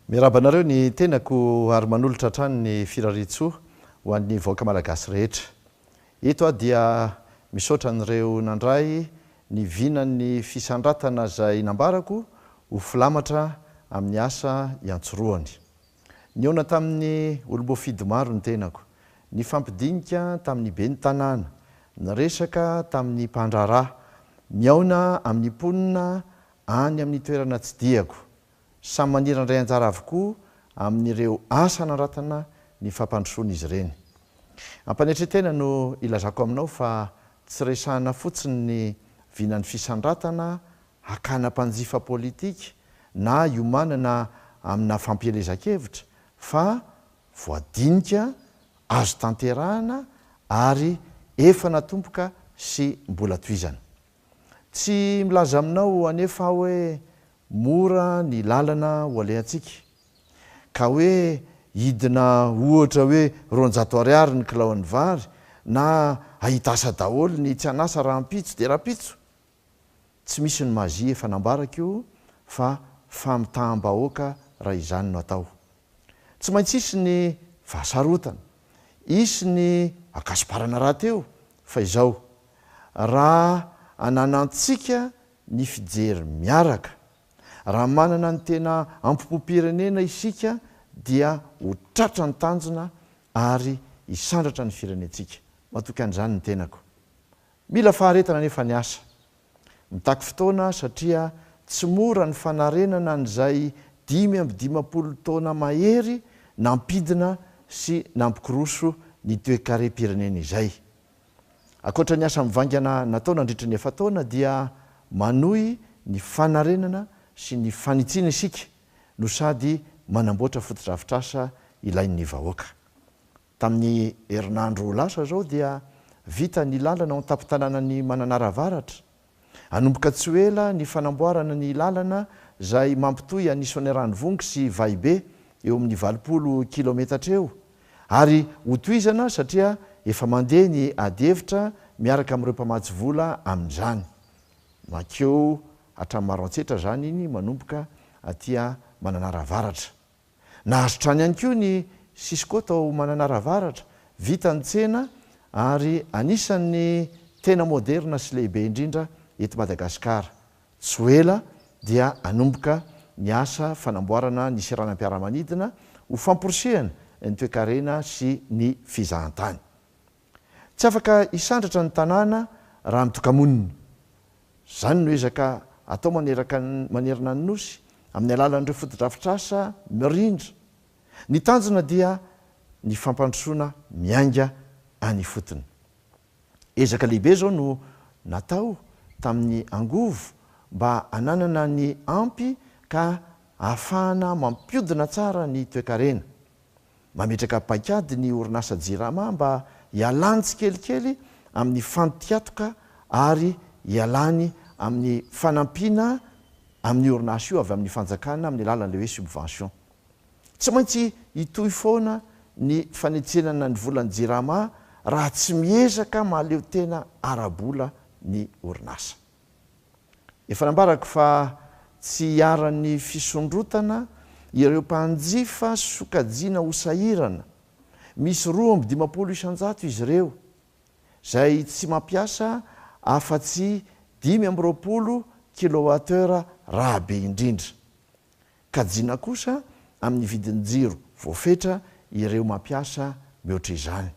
Miarahaba anareo ny tenako ary manolotra hatrany ny firariantsoa ho an'ny vahoaka malagasy rehetra. Eto aho dia misaotra an'ireo nandray ny vinan'ny fisandratana izay nambarako ho filamatra amin'ny asa iantsorohany. Nihaona tamin'ny olom-boafidy maro ny tenako. Nifampidinika tamin'ny ben'ny tanàna, niresaka tamin'ny mpandraharaha, nihaona amin'ny mponina any amin'ny toerana tsidihako. Samy maniry handray anjara avokoa amin'ireo asa hanandratana ny fampandrosoana izy ireny. Am-panetren-tena no ilazako aminao fa tsy resahina fotsiny ny vinan'ny fisandratana hakana mpanjifa politika na hiomanana amina fampielezan-kevitra fa voadinika, azo tanterahana ary efa natomboka sy mbola tohizana. Tsy milaza aminao anefa aho hoe mora ny lalana ho alehantsika, ka hoe hidina ohatra hoe roanjato ariary ny kilaon'ny vary na hahita asa daholo ny tsy an'asa rahampitso dia rahampitso. Tsy misy ny magie efa nambarako io fa famitaham-bahoaka raha izany no atao. Tsy maintsy hisy ny fahasarotana, hisy ny akasiparana rahateo fa izao, raha ananantsika ny fijery miaraka, raha manana ny tena ampopom-pirenena isika dia ho tratra ny tanjona ary hisandratra ny firenentsika. Matoky an'izany ny tenako. Mila faharetana anefa ny asa. Mitaky fotoana satria tsy mora ny fanarenana an'izay dimy amby dimampolo taona mahery nampidina sy nampikoroso ny toekarem-pirenena izay. Ankoatra ny asa mivaingana natao nandritra ny efa-taona dia manohy ny fanarenana sy ny fanitsiana isika no sady manamboatra fotodrafitrasa ilain'ny vahoaka. Tamin'ny herinandro lasa izao dia vita ny lalana ao an-tampon-tanànan'i Mananara Avaratra. Hanomboka tsy ho ela ny fanamboarana ny lalana izay mampitohy an'i Soaniranivongo sy Vahibe, eo amin'ny valopolo kilaometatra eo, ary hotohizana satria efa mandeha ny adihevitra miaraka amin'ireo mpamatsy vola amin'izany. Mankeo hatramin'ny Maroantsetra izany iny manomboka aty Mananara Avaratra. Nahazo trano ihany koa ny Cisco tao Mananara Avaratra, vita ny tsena ary anisan'ny tena moderina sy lehibe indrindra eto Madagasikara. Tsy ho ela dia hanomboka ny asa fanamboarana ny seranam-piaramanidina ho famporisihana ny toekarena sy ny fizahantany. Tsy afaka hisandratra ny tanàna raha mitoka-monina. Izany no ezaka atao maneraka ny manerana ny Nosy amin'ny alalan'ireo fotodrafitrasa mirindra. Ny tanjona dia ny fampandrosoana miainga any ifotony. Ezaka lehibe izao no natao tamin'ny angovo mba hananana ny ampy ka ahafahana mampiodina tsara ny toekarena. mametraka paikady ny orinasa Jirama mba hialany tsikelikely amin'ny fantiatoka ary hialany amin'ny fanampiana amin'ny orinasa io avy amin'ny fanjakana amin'ny alalan'ilay hoe subvention. Tsy maintsy hitohy foana ny fanetsenana ny volan'ny Jirama raha tsy miezaka mahaleo tena ara-bola ny orinasa. Efa nambarako fa tsy iharan'ny fisondrotana ireo mpanjifa sokajiana ho sahirana, misy roa amby dimampolo isan-jato izy ireo, izay tsy mampiasa afa-tsy dimy amby roapolo kilowattheure raha be indrindra. Kajiana kosa amin'ny vidin-jiro voafetra ireo mampiasa mihoatra izany.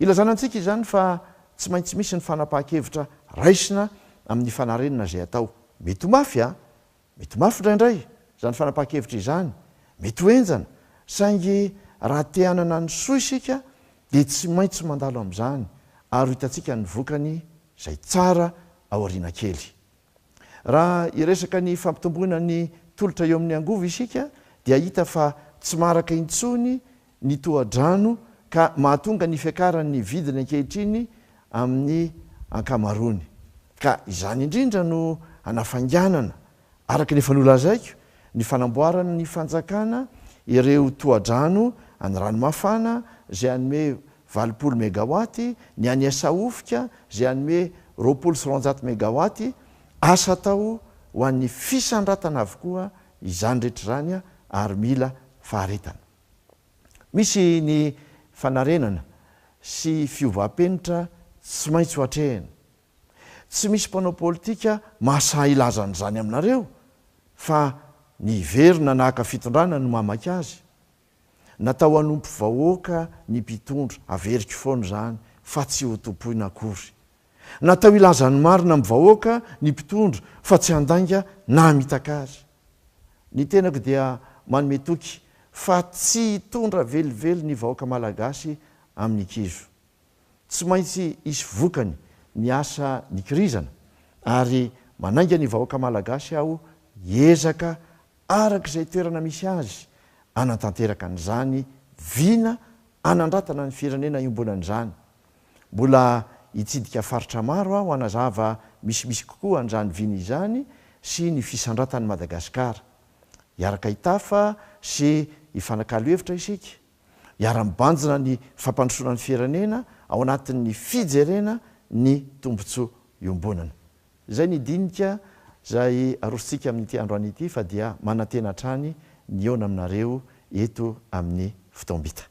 Ilazana antsika izany fa tsy maintsy misy ny fanapahan-kevitra raisina amin'ny fanarenana izay atao. Mety ho mafy an! Mety ho mafy indraindray izany fanapahan-kevitra izany, mety ho henjana, saingy raha te hanana ny soa isika dia tsy maintsy mandalo amin'izany ary ho hitantsika ny vokany izay tsara aoriana kely. Raha hiresaka ny fampitomboana ny tolotra eo amin'ny angovo isika dia hita fa tsy maharaka intsony ny tohadrano ka mahatonga ny fiakaran'ny vidiny ankehitriny amin'ny ankamaroany ka izany indrindra no hanafainganana, araka ny efa nolazaiko, ny fanamboaran'ny fanjakana ireo tohadrano any Ranomafana izay hanome Valopolo megawaty, ny any Asahofika izay hanome roapolo sy roanjato megawaty, asa atao ho an'ny fisandratana avokoa izany rehetra izany ary mila faharetana. Misy ny fanarenana sy fiovam-penitra tsy maintsy ho atrehina. Tsy misy mpanao politika mahasahy hilaza an'izany aminareo fa ny hiverina nahaka fitondrana no mamaky azy. Natao hanompo vahoaka ny mpitondra, averiko foana izany fa tsy ho tompoina akory. Natao hilaza ny marina amin'ny vahoaka ny mpitondra fa tsy handainga na hamitak'ary. Ny tenako dia manome toky fa tsy hitondra velively ny vahoaka malagasy amin'ny kizo. Tsy maintsy hisy vokany ny asa nikirizana ary manainga ny vahoaka malagasy aho hiezaka araka izay toerana misy azy, hanatanteraka an'izany vina hanandratana ny firenena iombonany izany. Mbola hitsidika faritra maro aho hanazava misimisy kokoa an'izany vina izany sy ny fisandratan'i Madagasikara. Hiaraka hitafa sy hifanakalo hevitra isika, hiara-mibanjina ny fampandrosoana ny firenena ao anatin'ny fijerena ny tombontsoa iombonana. Izay ny dinika izay arosontsika amin'ity androany ity fa dia manantena hatrany ny hihaona aminareo eto amin'ny fotoam-bita.